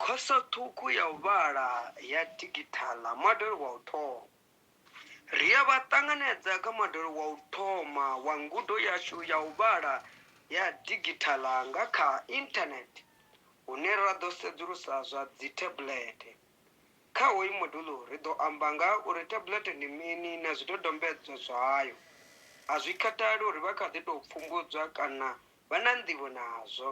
Khoso ṱhukhu ya u vhala ya digithala, Modele wa u thoma. Ri a vha ṱanganedza kha Modele wa u thoma wa ngudo yashu ya u vhala ya digithala nga kha Inthanethe, hune ra ḓo sedzulusa zwa dzithebulete. Kha hoyu modulo, ri ḓo amba nga ha uri thebulete ndi mini na zwidodombedzwa zwayo. A zwi khathali uri vha kha ḓi tou pfumbudzwa kana vha na nḓivho nazwo.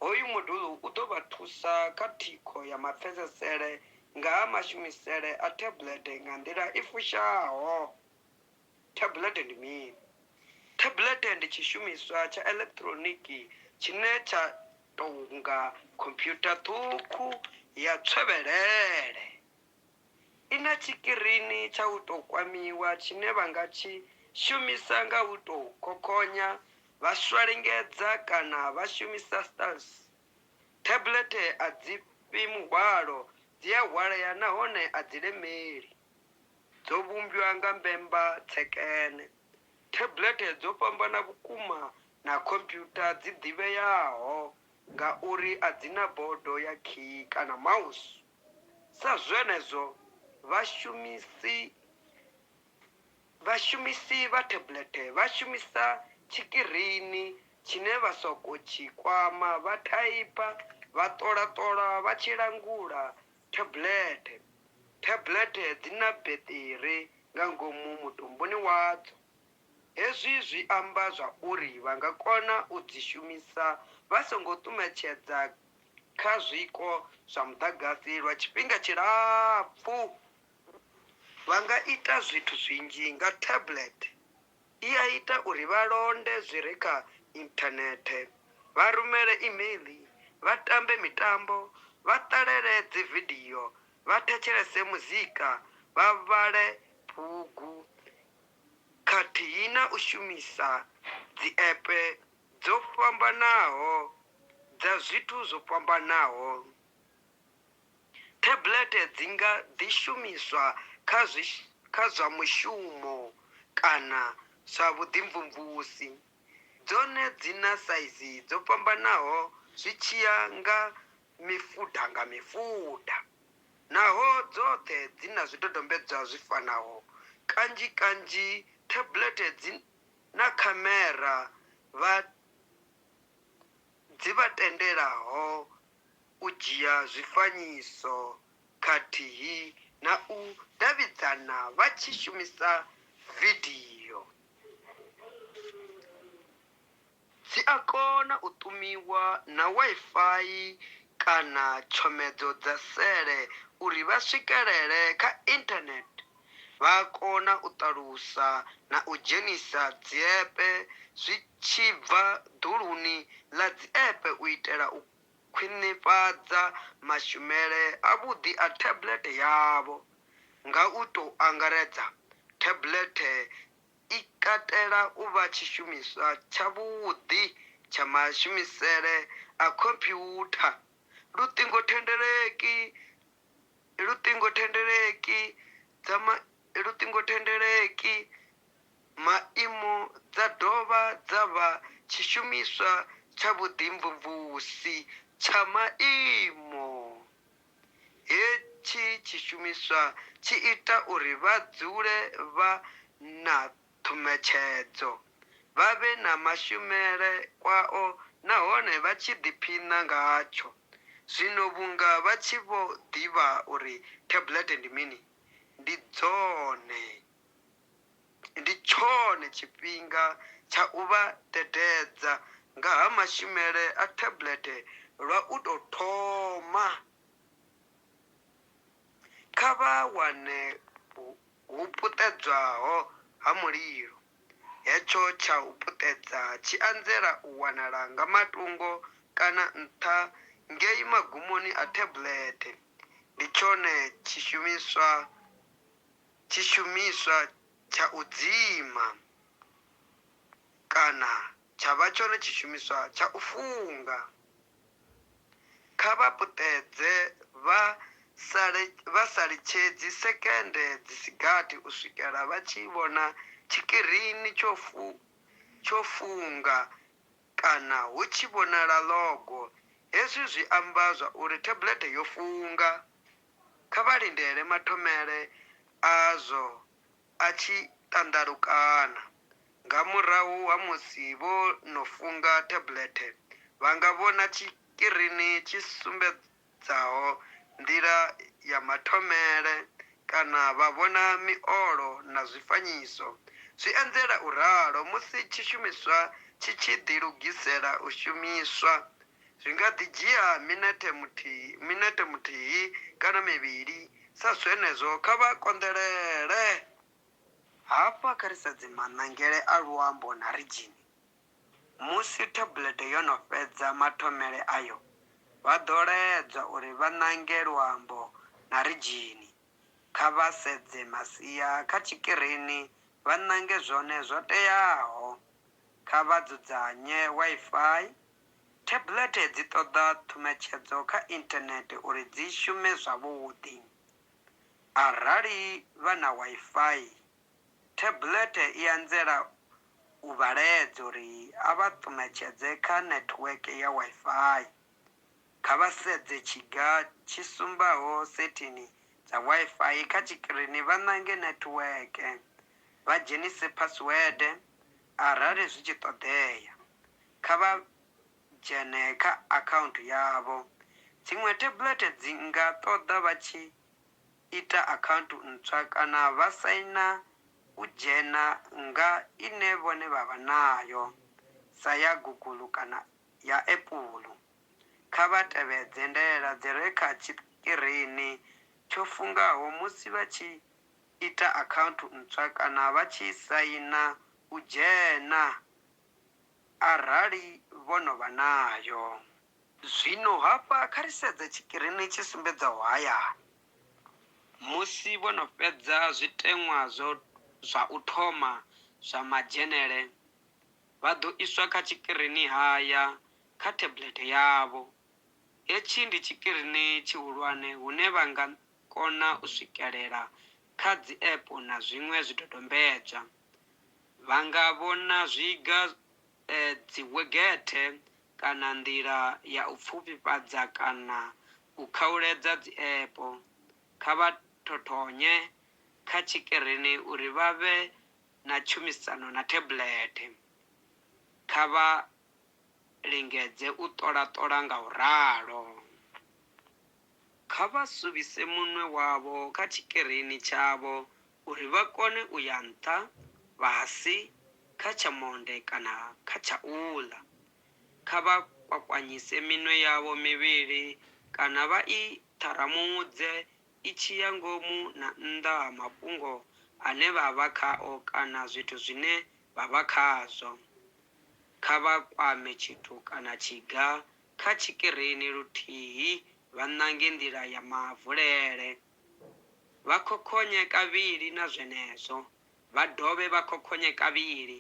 Hoyu moduḽu u ḓo vha thusa kha thikho ya mapfesesele nga ha mashumisele a thabulete nga nḓila i fushaho. Thabulete ndi mini? Thabulete ndi tshishumiswa tsha elekitironiki tshine tsha tou nga khomphyutha ṱhukhu ya tswevhelele. I na tshikirini tsha u tou kwamiwa tshine vha nga tshi shumisa nga u tou khokhonya, vha swalengedza kana vha shumisa stylus. Thablethe a dzi fhi muhwalo, dzi a hwalea nahone a dzi lemeli. Dzo vhumbwa nga mbemba tsekene. Thablethe dzo fhambana vhukuma na khomphyutha dzi ḓivheaho ngauri a dzi na bodo ya khiyi kana mouse. Sa zwenezwo, vhashumisi vhashumisi vha thablethe vha shumisa tshikirini tshine vha sokou tshi kwama vha thaipha, vha ṱola-ṱola vha tshi langula thablethe. Thablethe dzi na beṱiri nga ngomu mutumbuni wadzo. Hezwi zwi amba zwauri vha nga kona u dzi shumisa vha songo ṱumetshedza kha zwiko zwa muḓagasi lwa tshifhinga tshilapfu. Vha nga ita zwithu zwinzhi nga tablet. I a ita uri vha londe zwi re kha inthanethe, vha rumele imeiḽi, vha tambe mitambo, vha ṱalele dzividio, vha thetshelese muzika, vha vhale bugu khathihi na u shumisa dziapp dzo fhambanaho dza zwithu zwo fhambanaho. Thablethe dzi nga ḓi shumiswa kha zwi kha zwa mushumo kana zwa vhuḓimvumvusi. Dzone dzi na saizi dzo fhambanaho zwi tshi ya nga mifuda nga mifuda. Naho dzoṱhe dzi na zwidodombedzwa zwi fanaho, kanzhi kanzhi thablethe dzi na khamera vha dzi vha tendelaho u dzhia zwifanyiso khathihi na u davhidzana vha tshi shumisa vidio. Dzi a kona u ṱumiwa na Wi-Fi kana tshomedzo dza sele uri vha swikelele kha Internet. vha a kona u ṱalusa na u dzhenisa dziepe zwi tshi bva ḓuluni ḽa dziepe u itela u khwinifhadza mashumele avhuḓi a tablethe yavho. Nga u tou angaredza, tablethe i katela u vha tshishumiswa tshavhuḓi tsha mashumisele a khomphyutha, luṱingothendeleki luṱingothendeleki dza ma luṱingothendeleki maimo dza dovha dza vha tshishumiswa tsha vhuḓimvumvusi tsha maimo. Hetshi tshishumiswa tshi ita uri vha dzule vha na ṱhumetshedzo, vha vhe na mashumele kwao nahone vha tshi ḓiphina ngatsho. Zwino vhunga vha tshi vho ḓivha uri thabulete ndi mini, ndi dzone, ndi tshone tshifhinga tsha u vha dededza nga ha mashumele a thabulete lwa u tou thoma. Kha vha wane hu puṱedzwaho ha mulilo. Hetsho tsha u puṱedza tshi anzela u wanala nga matungo kana nṱha ngei magumoni a thablethe. Ndi tshone tshishumiswa tshishumiswa tsha u dzima kana tsha vha tshone tshishumiswa tsha u funga. Kha vha puṱedze vha sa litshedzi sekende dzi si gathi u swikela vha tshi vhona tshikirini tsho funga kana hu tshi vhonala ḽogo. Hezwi zwi amba zwa uri thablethe yo funga. Kha vha lindele mathomele azwo a tshi ṱanḓalukana. Nga murahu ha musi vho no funga thablethe, vha nga vhona tshikirini tshi sumbedzaho nḓila ya mathomele kana vha vhona miolo na zwifanyiso. Zwi anzela u ralo musi tshishumiswa tshi tshi ḓilugisela u shumiswa Zwi nga ḓi dzhia minethe muthihi, minethe muthihi kana mivhili sa zwenezwo, kha vha konḓelele. Hafha kha ri sedze maṋangele a luambo na ridzhini. Musi thabulete yo no fhedza mathomele ayo, vha ḓo laedzwa uri vha ṋange luambo na ridzhini. Kha vha sedze masia kha tshikirini vha ṋange zwone zwo teaho. Kha vha dzudzanye Wi-Fi Thebulethe dzi ṱoḓa ṱhumetshedzo kha inthanethe uri dzi shume zwavhuḓi. Arali vha na Wi-Fi, thebulethe i anzela u vha laedza uri a vha ṱumetshedze kha netiweke ya Wi-Fi. Kha vha sedze tshiga tshi sumbaho sethini dza Wi-Fi kha tshikirini vha ṋange netiweke, vha dzhenise phasiwede Arali zwi tshi ṱoḓea, kha vha dzhene kha akhaunthu yavho. Dziṅwe thebulete dzi nga ṱoḓa vha tshi ita akhaunthu ntswa kana vha saina u dzhena nga ine vhone vha vha nayo, sa ya Google kana ya Apple. Kha vha tevhedze ndaela dzi re kha tshikirini tsho fungaho musi vha tshi ita akhaunthu ntswa kana vha tshi saina u dzhena arali vho no vha nayo. Zwino hafha kha ri sedze tshikirini tshi sumbedzaho hayani. Musi vho no fhedza zwiteṅwa zwo zwa u thoma zwa madzhenele, vha ḓo iswa kha tshikirini haya kha thebulete yavho. Hetshi ndi tshikirini tshihulwane hune vha nga kona u swikelela kha dzi-app na zwiṅwe zwidodombedzwa. Vha nga vhona zwiga, dziwegethe kana nḓila ya u pfufhifhadza kana u khauledza dzi-app. Kha vha thothonye kha tshikirini uri vha vhe na tshumisano na thebulethe. Kha vha lingedze u ṱola-ṱola nga u ralo. Kha vha suvhise munwe wavho kha tshikerini tshavho uri vha kone u ya nṱha, fhasi, kha tsha monde kana kha tsha u ḽa. Kha vha kwakwanyise minwe yavho mivhili kana vha i ṱharamudze i tshi ya ngomu na nnḓa ha mafhungo ane vha vha khao kana zwithu zwine vha vha khazwo. Kha vha kwame tshithu kana tshiga Kha tshikirini luthihi vha ṋange nḓila ya mavulele. Vha khokhonye kavhili na zwenezwo vha dovhe vha khokhonye kavhili.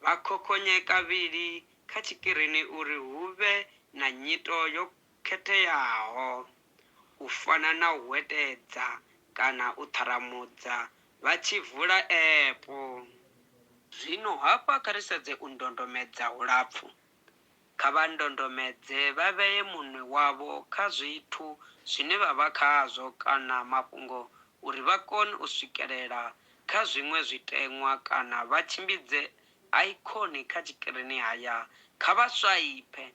Vha khokhonye kavhili kha tshikirini uri hu vhe na nyito yo khetheaho, u fana na u hwetedza kana u ṱharamudza vha tshi vula epu. Zwino hafha kha ri sedze u ndondomedza hulapfu. Kha vha ndondomedze vha vhee munwe wavho kha zwithu zwine vha vha khazwo kana mafhungo uri vha kone u swikelela kha zwiṅwe zwiteṅwa kana vha tshimbidze aikhoni kha tshikirini haya. Kha vha swaiphe,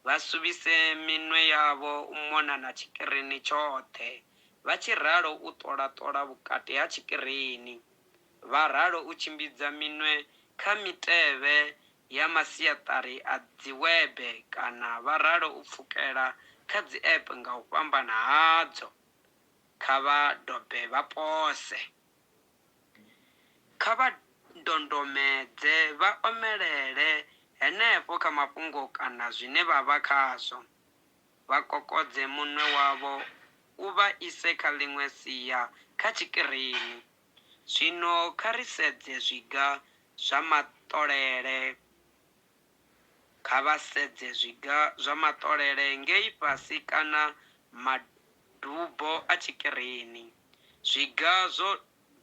vha suvhise minwe yavho u mona na tshikirini tshoṱhe vha tshi ralo u ṱola-ṱola vhukati ha tshikirini, vha ralo u tshimbidza minwe kha mitevhe ya masiaṱari a dziwebe kana vha ralo u pfukela kha dzi-app nga u fhambana hadzo, kha vha dobe vha pose. Kha vha ndondomedze vha omelele henefho kha mafhungo kana zwine vha vha khazwo, vha kokodze munwe wavho u vha ise kha ḽiṅwe sia kha tshikirini. Zwino kha ri sedze zwiga zwa maṱolele. Kha vha sedze zwiga zwa maṱolele ngei fhasi kana madubo a tshikirini. Zwiga zwo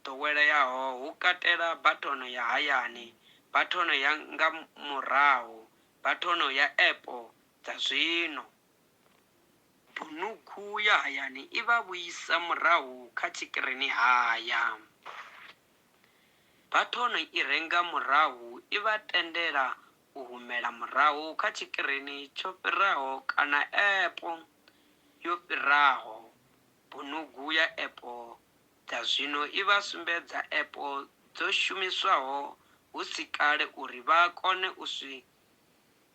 ḓoweleaho hu katela bathono ya hayani, bathono ya nga murahu, bathono ya epo dza zwino. Bunuku ya hayani i vha vhuisa murahu kha tshikirinihaya. Bathoni i re nga murahu i vha tendela u humela murahu kha tshikirini tsho fhiraho kana epo yo fhiraho. Bunuku ya epo dza zwino i vha sumbedza epo dzo shumiswaho hu si kale uri vha kone u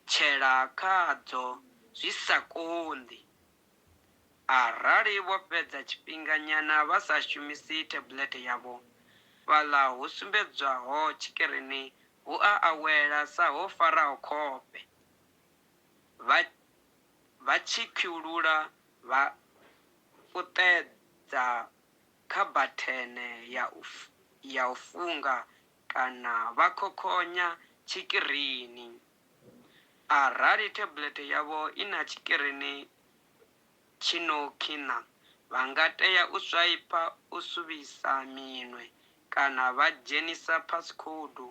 tshetshetshela khadzo zwi sa konḓi. Arali vho fhedza tshifhinganyana vha sa shumisi thebulete yavho, fhaḽa hu sumbedzwaho tshikirini hu a awela sa ho faraho khofhe, vha vha tshi khwiulula vha puṱedza kha bathene ya u ya u funga Kana vha khokhonya tshikirini. Arali thebulethe yavho i na tshikirini tshi no khina, vha nga tea u swaipha u suvhisa minwe kana vha dzhenisa phasikhoudu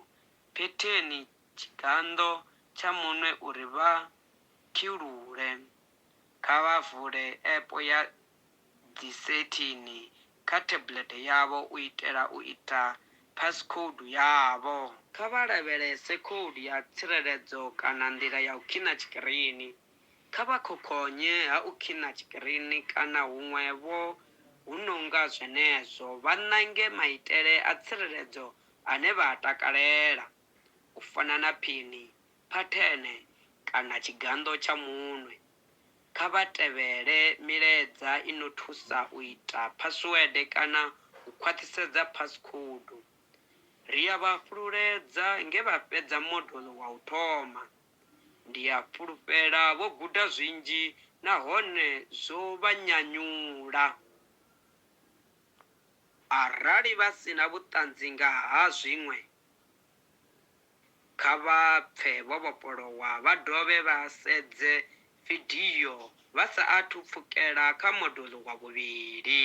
phetheni tshiganḓo tsha munwe uri vha khilule. Kha vha vule app ya dzisetini kha tablet yavho u itela u ita passcode yavho. Kha vha lavhelese khoudu ya tsireledzo kana nḓila ya u khina tshikirini. Kha vha khokhonye ha u khina tshikirini kana huṅwe-vho hu no nga zwenezwo, vha ṋange maitele a tsireledzo ane vha a takalela, u fana na phini, phathene kana tshiganḓo tsha munwe. Kha vha tevhele milaedza i no thusa u ita phasiwede kana u khwaṱhisedza phasikhoudu. Ri a vha fhululedza nge vha fhedza moduḽu wa u thoma. Ndi a fhulufhela vho guda zwinzhi nahone zwo vha nyanyula. Arali vha si na vhuṱanzi nga ha zwiṅwe, Kha vha pfe vho vhofholowa vha dovhe vha sedze vidio vha sa athu pfukela kha moduḽu wa vhuvhili.